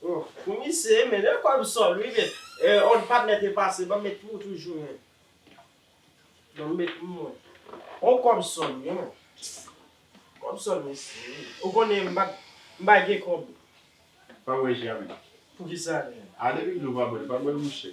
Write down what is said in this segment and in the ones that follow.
Pou misye e mele kob sol wi men on patnè te pase banm met pou ou toujou men banm met pou mwen on kob sol wi men kob sol mesye wi ou konnen m pat m pa gen kob pa bwe jèm poukisa a depi dlo pa bwèl pa bwèl mouche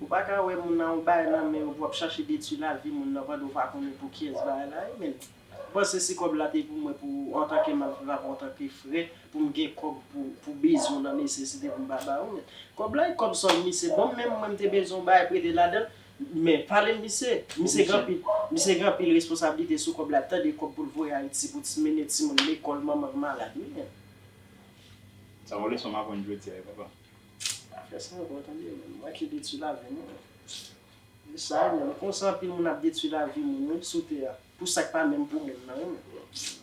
Ou pa ka wè moun nan yon bagay nan men yo pou wap chache detwi lavi moun nan pandan ou pa konnen pou kiyès bagay la ye menn. Ou panse si kòb la te pou mwen pou antanke malfra pou antanke frè pou m gen kòb pou bezwen w nan nesesite pou m pa ba ou menn. Kòb la e kòb sòl misye ban m menm mwen m te bezwen yon bagay prete ladan l men pale m misye. Misye gen anpil misye gen anpil responsablite sou kòb la tande kòb pou l voye Ayiti pou ti mennen timoun lekòl manman l malad wi menn. Sa yon leson m aprann jodi a wi papa. Afè sa bon tande menm. Mwen ki detwi lavi moun. Se sa wi menm. Konsa anpil moun ap detwi lavi moun wi sou tè a. Pou sak pa menm pou moun nan wi menm.